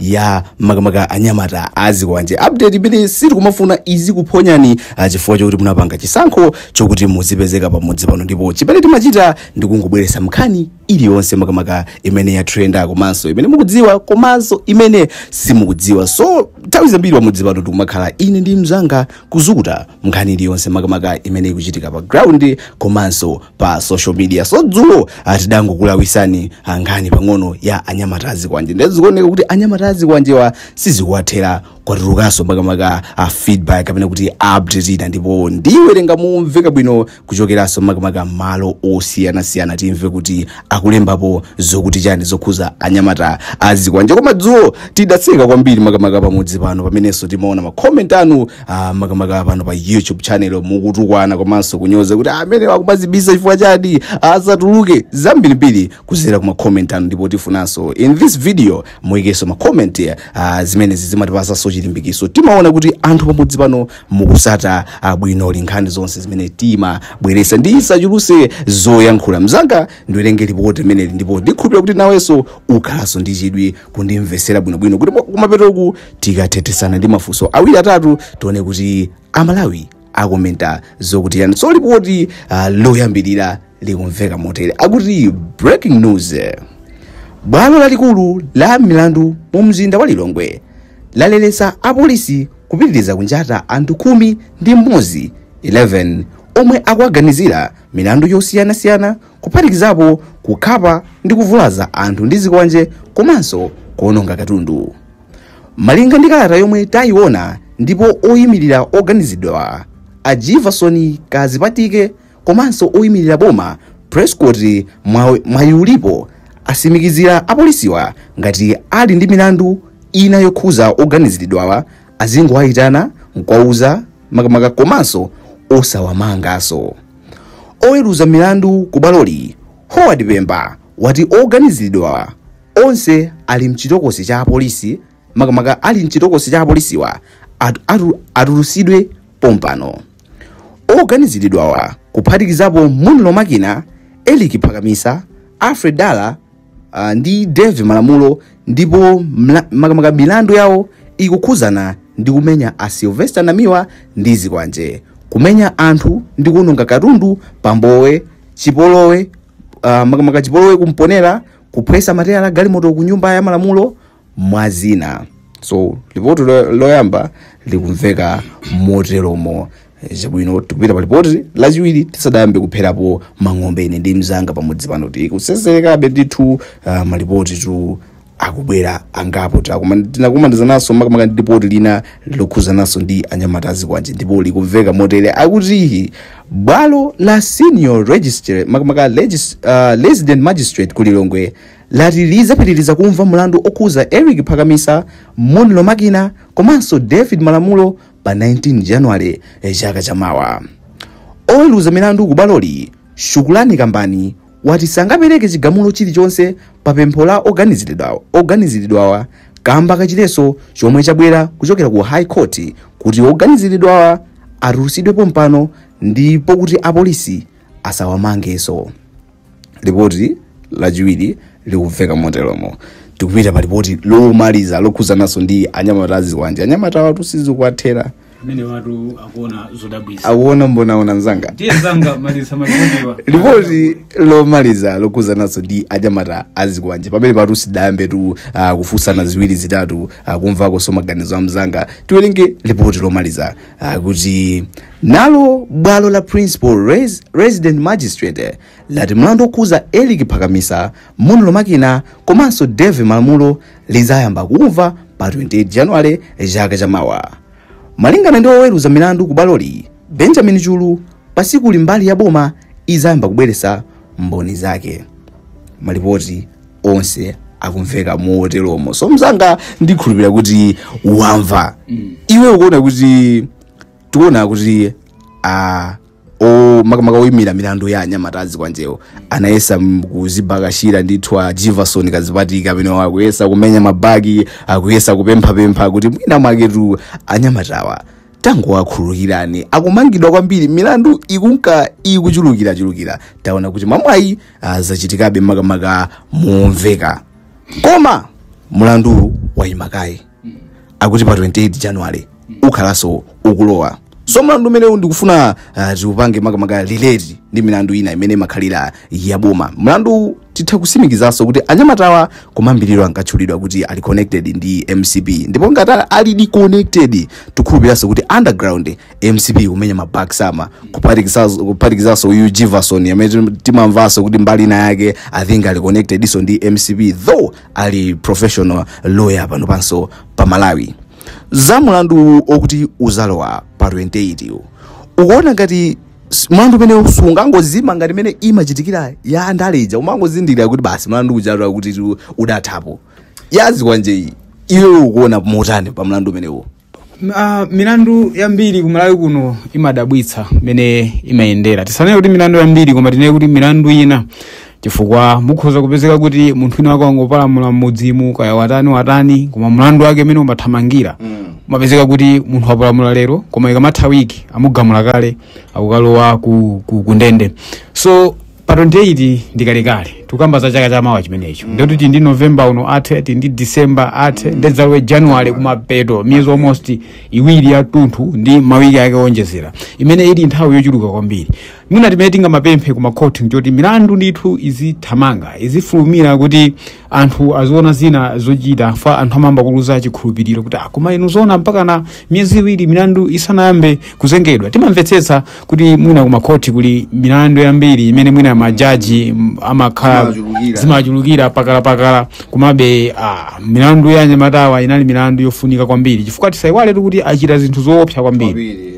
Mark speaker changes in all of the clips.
Speaker 1: ya makamaka anyamata azikwanje update imene sitikumafuna izikuphonyani ah, chifukwa chokuti munapanga chisankho chokuti muzipezeka pamudzi pano ndipo chimene timachita ndikungobweresa nkhani iliyonse makamaka imene yatrenda komanso imene mukudziwa komanso imene simukudziwa so nthawi zambiri pamudzi pano tikumakhala ine ndi mzanga kuzukuta nkhani iliyonse makamaka imene ikuchitika pa ground komanso pa social media so dzulo tidangokulawisani nkhani pang'ono ya anyamata azikwanje ndiye zikuoneka kuti anyamata azikwanjewa sizikuwathera kwatulukanso makamaka feedback kapena kuti update ina ndipo ndiwerenga momveka bwino kuchokeranso makamaka malo osiyanasiyana timve kuti akulembapo zokuti chani zokhuza anyamata azikwanje koma dzulo tidatseka kwambiri makamaka pamudzi pano pamenenso timaona makomenti anu ah, makamaka pano pa youtube channel mukutukwana komanso kunyoza kuti amenewa akumazibisa chifukwa chani azatuluke zambirimbiri kuzera ku makomenti anu ndipo tifunanso in this video muyikenso makomenti ah, zimenezi zimatipasanso chilimbikiso timaona kuti anthu pamudzi pano mukusata ah, bwino nkhani zonse zimene timabweresa ndisachuluse zoyankhula mzanga ndiwerenge lipoti limeneli ndipo ndikhulupira kuti nawenso ukhalanso ndi chidwi kundimvetsera bwinobwino kuti kumapetoku tikathethesana ndi mafunso awiri atatu tione kuti amalawi akomenta zokuti chani so lipoti uh, loyambirira likumveka motere akuti breaking news bwalo lalikulu la milandu mu mzinda wa lilongwe lalelesa apolisi kupitiriza kunjata anthu khumi ndi mmodzi 11 omwe akuwaganizira milandu yosiyanasiyana kuphatikizapo kukhapa ndi kuvulaza anthu ndi zikwanje komanso kuononga katundu malinga ndi kalata yomwe tayiona ndipo oyimirira oganiziridwawa a jivason kazipatike komanso oyimirira boma prescott Mwa- mwayulipo asimikizira apolisiwa ngati ali ndi milandu ina yokhuza oganiziridwawa azingowayitana nkwauza makamaka komanso osawamanganso Oweruza milandu ku bwaloli, Howard Pemba, wati oganiziridwawa onse ali mchitokosi cha apolisi makamaka ali mchitokosi cha apolisiwa at, atu, atulusidwe pompano. Oganiziridwawa kuphatikizapo Munlo Makina, Erick Phakamisa, Alfred Dala uh, ndi davie malamulo ndipo mla- makamaka milandu yawo ikukhuzana ndi kumenya a sylvester namiwa ndi zikwanje kumenya anthu ndi kuononga katundu pa mbowe chipolowe uh, makamaka chipolowe ku mponela kuphwesa matayala a galimoto ku nyumba ya malamulo mwazina so lipoti lo- loyamba likumveka moteromo zibwino tikupita pa lipoti lachiwiri tisadayambe kupherapo mang'ombe ine ndi mzanga pamudzi pano tikuseserekabe ndithu uh, malipoti tu akubwera angapo tinakumanizananso makamaka ndi lipoti lina lokhuzananso ndi anyamata azikwanje ndipo likumveka motere akuti bwalo la senior register makamaka legis, uh, resident magistrate ku lilongwe lati lidzapitiriza kumva mlandu okhuza Eric Phakamisa, Monlo Makina komanso David Malamulo pa 19 January chaka chamawa. Oweruza milandu ku bwaloli, Shukurani Kumbani wati sangapereke chigamulo chilichonse pa pempho la oganiziridwawa kamba ka chiletso chomwe chabwera kuchokera ku High Court kuti oganiziridwawa atulutsidwe pompano ndipo kuti apolisi asawamangeso. lipoti lachiwiri likumveka moteromo tikupita pa lipoti lomaliza lokhuzananso ndi anyamata azikwanje anyamatawatu sizikuwathera amenewatu
Speaker 2: akuona zodabwisa akuona mbonaona
Speaker 1: mzanga ndiye mzanga
Speaker 2: maliza
Speaker 1: malipotiwa lipoti lomaliza lokhuzananso ndi anyamata azikwanje pamenepatu tisadayambetu uh, kufunsana ziwiri zitatu uh, kumvakonso maganizo a mzanga tiwerenge lipoti lomaliza akuti nalo bwalo la principal res, resident magistrate lati mlandu okhuza eric phakamisa monlo makina komanso dave malamulo lizayamba kumva pa 28 januwale chaka chamawa malingana ndi oweruza milandu ku bwaloli benjamin chulu pasikuli mbali ya boma izayamba kubweretsa mboni zake malipoti onse akumveka moteromo so mzanga ndikhulupirira kuti wamva iwe ukuona kuti tikuona kuti ah, o makamaka oyimira milandu ya anyamata azikwanjewo anayesa m- kuzibakashira ndithu a jivason kadzipatike amene akuyesa kumenya ma back akuyesa kupemphapempha kuti mwina mwaketu anyamatawa tangowakhululukirani akumangidwa kwambiri milandu ikunka ikuchulukirachulukira taona kuti mwamwayi uh, zachitikabe makamaka momveka koma mulandu wayima kaye akuti pa 28 january ukhalanso ukulowa so mlandu umenewu ndikufuna uh, tiupange makamaka relate ndi milandu ina imene imakhalira yaboma mlandu titha kusimikizanso kuti anyamatawa kumayambiriro ankatchulidwa kuti ali connected ndi mcp ndipo ngati alidi connected tikhulupiranso kuti underground mcp kumenya ma Bakisama kuphatikizaso kuphatikizaso uyu Jivason amene tim- timamvaso kuti mbali ina yake i think ali connected iso ndi mcp though ali professional lawyer pano panso pa malawi za mulandu okuti uzalowa pa 28 uwu. ukuona ngati s- mlandu umene sungangozima ngati imene imachitikira ya andale ija umangozindikira kuti basi mlandu uja kuti tu- udathapo yazikwanje iyi iwe ukuona motani pa mlandu umenewo Uh,
Speaker 2: milandu yambiri ku Malawi kuno imadabwitsa mmene imayendera tisanene kuti milandu yambiri koma tinene kuti milandu ina chifukwa mukhoza kupezeka kuti munthu wina wake wangopalamula mmudzimu kaya watani watani koma mlandu wake mmene umathamangira umapezeka kuti munthu wapalamula lero koma ikamatha wiki amugamula kale akukalowa ku, ku, ku ndende so pa 28 ndikalekale tikukamba za chaka chamawa chimenecho mm. ndikuti tili ndi november uno athe tili ndi december athe mm. ndedzalowe january kumapeto miyezi almost iwiri yatunthu ndi mawiki ake oonjezera imene ili nthawi yochuluka kwambiri mwina chimene tingamapemphe ku makhoti nchoti milandu ndithu izithamanga izifulumira kuti anthu aziona zina zochita fa anthu amayamba kuluza chikhulupiriro kuti a koma inu zoona mpaka na miyezi iwiri milandu isanayambe kuzengedwa timamvetsetsa kuti mwina kumakhoti kuli milandu yambiri imene mwina majaji m- amakhala zimawachulukira pakalapakala komabe ah, milandu ya anyamatawa inali milandu yofunika kwambiri chifukwa tisayiwale kuti achita zinthu zoopsa kwambiri kwambiri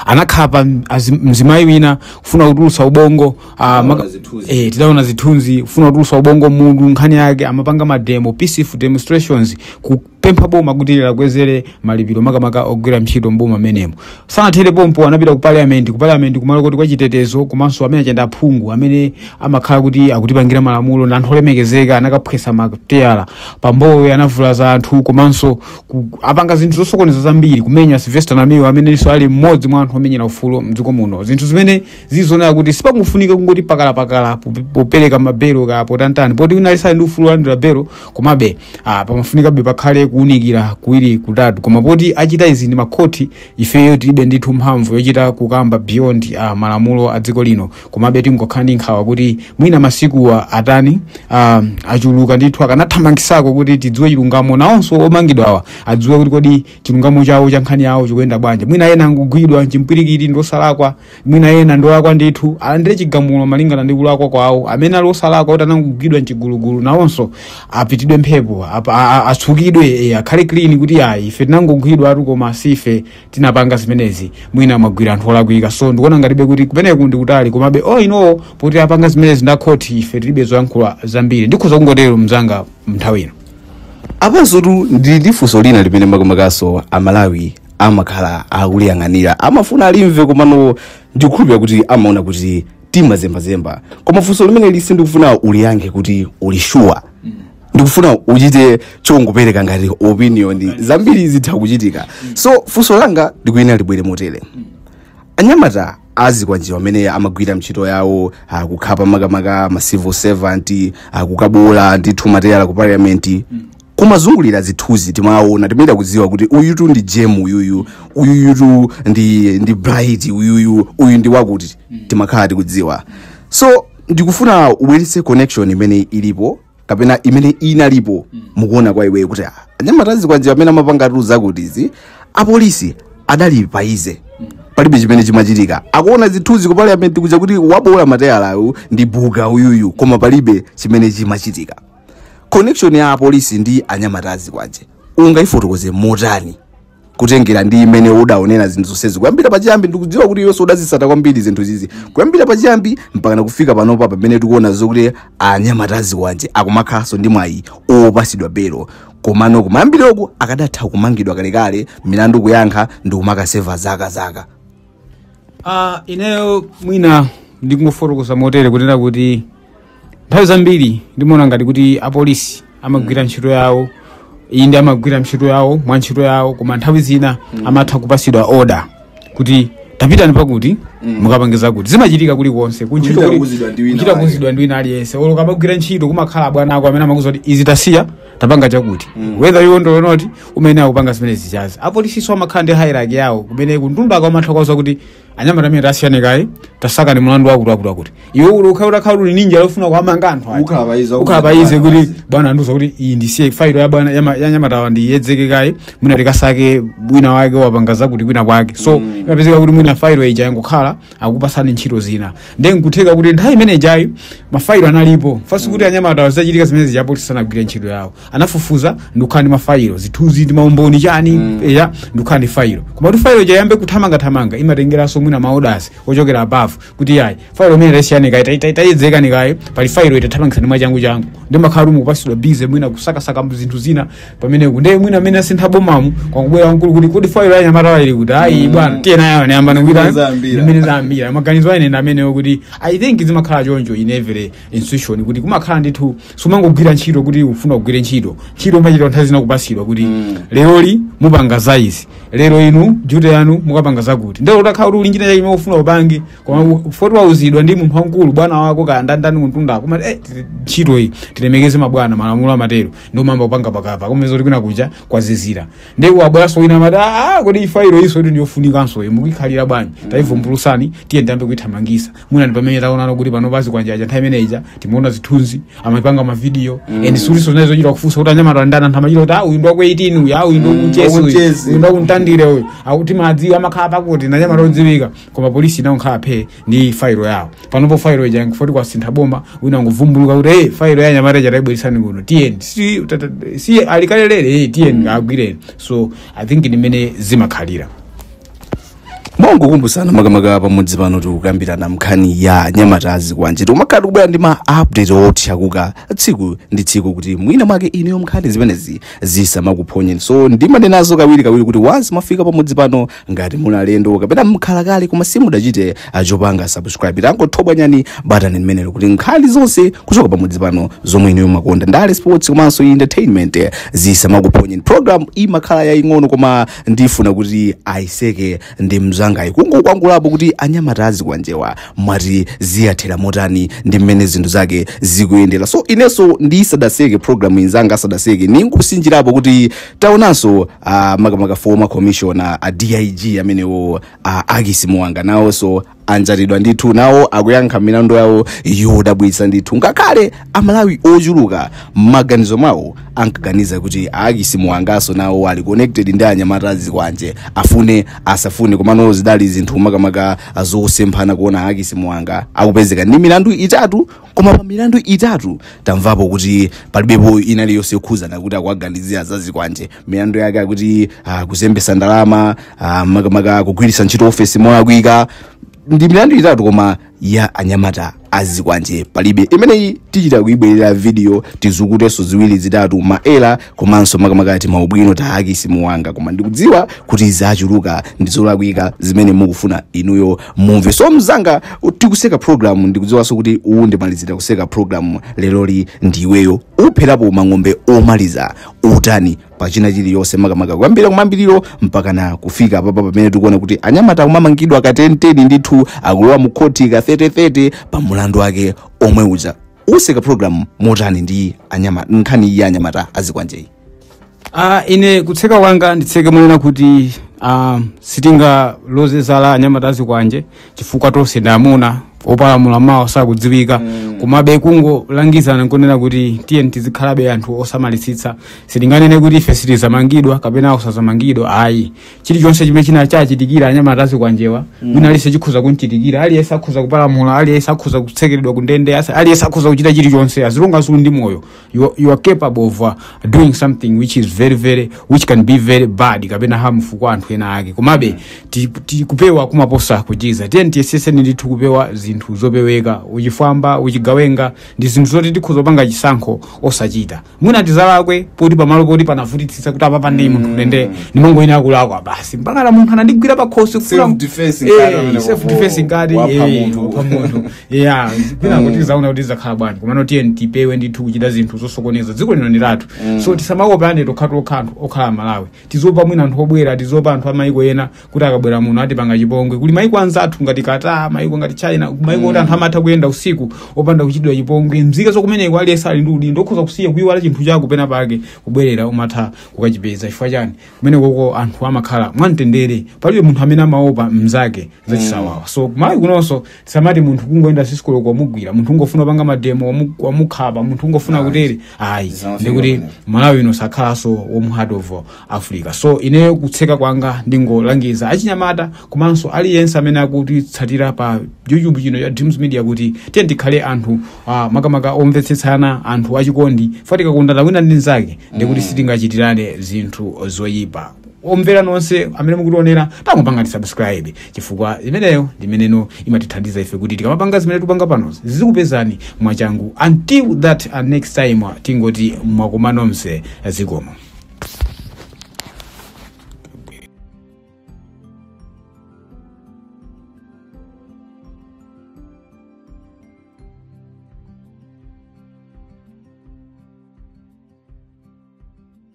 Speaker 2: anakhapa mzi- mzimayi wina kufuna kutulutsa ubongo Ah, maka- zithunzi. eh, tidaona zithunzi kufuna kutulusa ubongo munthu nkhani yake amapanga mademo peaceful demonstrations kupempha boma kuti liwakwezere malipiro makamaka ogwira ntchito mboma amenemo sanathere pompo anapita ku parliament ku parliament kumalo koti kwachitetezo komanso amene akuyenda aphungu amene amakhala kuti akutipangira malamulo na anthu olemekezeka anakaphwesa mateyala pompo anavulaza anthu komanso ku- apanga zinthu zosokoneza zambiri kumenya sylvester namiwa amenenso ali mmodzi mwa anthu omenyera ufulu mdziko muno zinthu zimene zikuonetsa kuti sipakufunika kungoti pakalapakala pope- popereka mabelo kapena kutani poti wina aliyense ali ndi ufulu wolandira belo komabe ah, pamafunikabe pakhale kuunikira kuwiri kutatu koma poti achita izi ndi makhoti ifeyo tilibe ndithu mphamvu yochita kukamba beyond ah, malamulo a dziko lino komabe tingokhala ndi nkhawa kuti mwina masikuwa atani ah, achuluka ndithu akanathamangisako kuti tidziwe chilungamo nawonso omangidwawa adziwe kuti kodi chilungamo chawo cha nkhani yawo chikuyenda bwanji mwina ena angogwidwa chimpwirikiti ndi osalakwa mwina ena ndi olakwa ndithu alandire chigamulo malingana ndi kulakwa kwawo amene ali osalakwa kuti anangogwidwa mchigulugulu nawonso apitidwe mphepo ap- a- a- atsukidwe eh, akhale clean kuti ayi ife tinangogwidwatu koma sife tinapanga zimenezi mwina mwagwira anthu olakwika so ndikuona ngatibe kuti kumeneku ndi kutali komabe o inowo poti apanga zimenezi ndi a khoti ife tilibe zoyankhula zambiri ndikhoza kungotero mzanga mnthawi ino apanso
Speaker 1: tili ndi funso lina limene makamakaso amalawi amakhala akuliyang'anira amafuna alimve komano ndikukhulupira kuti amaona kuti timazembazemba koma funso limeneli sindikufuna uliyankhe kuti uli shuwa ndikufuna uchite chongopereka ngati opinion zambiri zitha kuchitika so funso langa ndikuyenera libwere motere anyamata azikwanjewa amene amagwira ntchito yawo ah, kukhapa makamaka ma civil servant ah, kukaboola ndithu mateyala ku parliament kumazungulira zithunzi timaona timaita kudziwa kuti uyutu ndi jem uyuyu uyuyutu ndi ndi bright uyuyu uyu ndi wakuti timakhala tikudziwa so ndikufuna ubweretse connection imene ilipo kapena imene inalipo mukuona kwa iweyo kuti ah, anyamata azikwanjewa amene amapangatu zakutizi apolisi adali pa easy palibe chimene chimachitika akuona zithunzi ku parliament kuja kuti waboola mateyalayu ndi buga uyuyu koma palibe chimene chimachitika connection ya apolisi ndi anyamata azikwanje ungayifotokoze motani kutengera ndi mmene udaonera zinthu zonsezi kuyambira pachiyambi ndikudziwa kuti iwenso udazitsata kwambiri zinthu zizi kuyambira pachiyambi mpaka nakufika panopa pamene tikuona zokuti anyamata azikwanje akumakhalanso ndi mwayi opatsidwa belo komano kumayambiroko akadatha kumangidwa kalekale milandu kuyankha ndikumakaseva zaka zaka Uh,
Speaker 2: ineyo mwina ndikungofotokoza motere kunena kuti nthawi zambiri ndimaona ngati kuti apolisi amagwira ntchito yawo inde amagwira ntchito yawo mwa ntchito yawo koma nthawi zina amatha kupatsidwa oda kuti tapitani pakuti mukapange zakuti zimachitika kulikonse ku ntchito kuchita kuuzidwa ndi wina aliyense olo ukamagwira ntchito kumakhala abwana ako amene amakuuza kuti izi tasiya tapanga chakuti whether you want or not umayenera kupanga zimene zijazi apolisinso amakhala ndi hierarchy yawo kumene kumtunda akamatha kuwauza kuti anyamata amenewa tasiyani kaye tasakani mulandu wakuti wakuti wakuti iwe uli ukhala utakhala uli ndi njala yofuna kuwamanga anthu aja. Ukhala pa easy, ukhala pa easy ukhala kuti bwana andiuza kuti iyi ndisiye failo ya bwana yama- ya anyamatawa ndiyedzeke kaye mwina tikasake wina wake wapanga zakuti kwina kwake so imapezeka kuti mwina failo ija yangokhala akupatsani ntchito zina ndiye nkutheka kuti nthawi imene ijayo mafailo analipo fasi kuti anyamata zachitika zimene zija apolisi anagwira ntchito yawo anafufuza ndikukhala ndi mafailo zithunzi ndi maumboni chani ya ndikukhala ndi failo koma kuti failo ija iyambe kuthamangathamanga imatengeranso mwina ma orders ochokera above kuti yayi failo imene tasiyani kaye tai- tai- tayedzekani kaye pali failo iyi tathamangitsani mwachangu changu ndiye mumakhala kuti mukupatsidwa busy mwina kusakasaka zinthu zina pameneku ndiye mwina mmene asintha bomamu kwangobwera wamkulu kuti kodi failo ya anyamatawa ili kuti ayi bwana tiye nayo anayamba Zimene nikuita zambira. zimene zambira maganizo a ine ndi amenewo kuti i think zimakhala choncho in every institution kuti kumakhala ndithu sumangogwira ntchito kuti ufuna kugwira ntchito ntchito umachita nthawi zina kupatsidwa kuti leroli mupanga za izi lero inu duty yanu mukapanga zakuti ndiye olo utakhala kuti uli ndi china chake chimene ufuna upange koma poti wauzidwa ndi munthu wamkulu bwana wako kaya ndi ndani kumtunda kumati eh, tiri- ntchito iyi tilemekeze mabwana malamulo amatero ndio mambo panga pakapa koma zoti kwina kuja kwazizira ndi wabwaso wina amati ah kodi failo iyi so ndi ndiyofunikanso mukuikhalira bwanji taivumbulutsani tiye tiyambe kuithamangisa mwina ndi pamene taonana kuti pano pa zikwanje paja nthawi imene ija timaona zithunzi amapanga mavidiyo and sizinali zochita kufunsa kuti anyamata ndani anthu amachita kuti ah uyu ndi waku 18 uyu ah uyu ndi wakuchesi uyu wakuchesi. uyu ndi wakuntandire uyu akuti amawadziwa amakhala pakuti ndi anyamata odziwika koma polisi inangokhala phee ndi failo yawo panopo failo ija chifukwa choti kwasintha boma wina ngovumbuluka kuti hey, failo ya nyamata ija taibweresani kuno tiyeni si, tata- si alikalelere hey, tiyeni agwireni so i think ndi mmene zimakhalira
Speaker 1: mongokumbusana makamaka pamudzi pano tikukambirana nkhani ya anyamata azikwanje tikumakhala tikubwera ndi ma update othyakuka tsiku ndi tsiku kuti mwina mwake inuyo nkhani zimenezi zisamakuphonyeni so ndimanenazo kawiri kawiri kuti once mwafika pamudzi pano ngati muli alendo kapena mkhalakale koma simudachite chopanga subscribe tangothobwanyani batani limenelo kuti nkhani zonse kuchoka pamudzi pano zomwe inuyo mumakonda ndale sports komanso entertainment zisamakuphonyeni program imakhala yaying'ono koma ndifuna kuti ayiseke ndi mzangayi kungokwangulapo kuti anyamata azikwanjewa mwati ziyathera motani ndi mmene zinthu zake zikuyendera so inenso ndisadaseke program inzanga asadaseke ndingotsinjirapo kuti taonanso uh, makamaka former commissioner a dig amenewo uh, akisi muwanga nawonso anjatidwa ndithu nawo akuyankha milandu yawo yodabwitsa ndithu ngakhale amalawi ochuluka mmaganizo mwawo ankaganiza kuti akisi muwanganso nawo ali connected ndi anyamata azikwanje afune asafune komano zidali zinthu makamaka zosemphana kuona akisi muwanga akupezeka ndi milandu itatu koma pa milandu itatu tamvapo kuti palibepo ina iliyonse yokhuzana kuti akuwaganizira za zikwanje milandu yake akuti uh, kuzembesa ndalama uh, makamaka kugwiritsa ntchito ofesi molakwika ndi milandu itatu koma ya anyamata azikwanje palibe imeneyi tichita kuibwerera video tizukutenso ziwiri zitatu maela komanso makamaka timaubwino ta akisi muwanga koma ndikudziwa kuti zachuluka ndi zolakwika zimene mukufuna inuyo mumve so mzanga tikuseka program ndikudziwanso kuti uwu ndi omalizira kuseka program leroli ndi iweyo upherapo mphongo omaliza utani pachina chilichonse makamaka kuyambira kumayambiriro mpakana kufika papa pamene tikuona kuti anyamata akumamangidwa ka 1010 ndithu akulowa mu khoti ka 3030 pa mulandu wake omwe uja useka program motani ndi anyamata nkhani iyi anyamata azikwanjeyi
Speaker 2: Ah, ine kutseka kwanga nditseke monena kuti ah, sitingaloze zala anyamata azikwanje chifukwa tonse ndi amuna opalamula mawa sakudziwika komabe kungolangizana nkunena kuti tiyeni tizikhalabe anthu osamalisitsa sitinganene kuti ife sitizamangidwa kapena osazamangidwa ayi chilichonse chimene chinachitikira anyamata azikwanjewa wina aliyense chikhoza kumchitikira aliyense akhoza kupalamula aliyense akhoza kutsekeredwa kundende asa- aliyense akhoza kuchita chilichonse as long as ali ndi moyo you, are- you are capable of uh, doing something which is very very which can be very bad kapena harmful kwa anthu ena ake komabe ti- ti- kupewa kumaposa kuchiza tiyeni tiyesetse ndithu kupewa zinthu zopeweka uchifwamba uchigawenga ndi zinthu zoti tikhoza kupanga chisankho osachita mwina tidzalakwe poti pamalo poti panavutitsitsa kuti apapa ndi munthu ndende ndimongoyenera kulakwa basi mpaka na munthu anandigwira pakhosi Self-defense ngati
Speaker 1: amene self defense
Speaker 2: ngati wapha eh, munthu. wapha munthu ya kwina kuti tidzaona kuti zakhala bwanji komano tiye tipewe ndithu kuchita zinthu zosokoneza dziko lino ndi lathu so tisamaopane tokhatokha anthu okhala malawi tiziopa mwina anthu obwera tiziopa anthu amayiko ena kuti akabwera muno atipanga chipongwe kuli mayiko anzathu ngati qatar mayiko ngati china mayiko kuti anthu amatha kuyenda usiku opanda kuchitidwa chipongwe mzika zokumeneko aliyense ali ndi udindo okhoza kusiya kuyiwala chinthu chako pena pake kubwerera umatha kukachipeza chifukwa chani kumenekoko anthu amakhala mwamtendere palibe munthu amene amaopa mzake zachisawawa so kumalawi kunonso tisamati munthu kungoyenda sisikulo kumugwira munthu ungofuna kupanga mademo wamu- wamukhapa munthu ungofuna kutere ayi Zinawo ndikuti zingafuna. malawi ino sakhalanso warm heart of africa so ineyo kutseka kwanga ndingolangiza achinyamata komanso aliyense amene akutitsatira pa youtube channel ya dreams media kuti tiye tikhale anthu uh, makamaka omvetsetsana anthu achikondi for tikakondana wina ndi mnzake ndikuti sitingachitirane zinthu zoyipa omvera nonse amene mukutionera tangopangani subscribe chifukwa imeneyo ndi imene imatithandiza ife kuti tikamapanga zimene tikupanga panozi zizikupezani mwachangu until that uh, next time uh, tingoti mwakoma nonse zikomo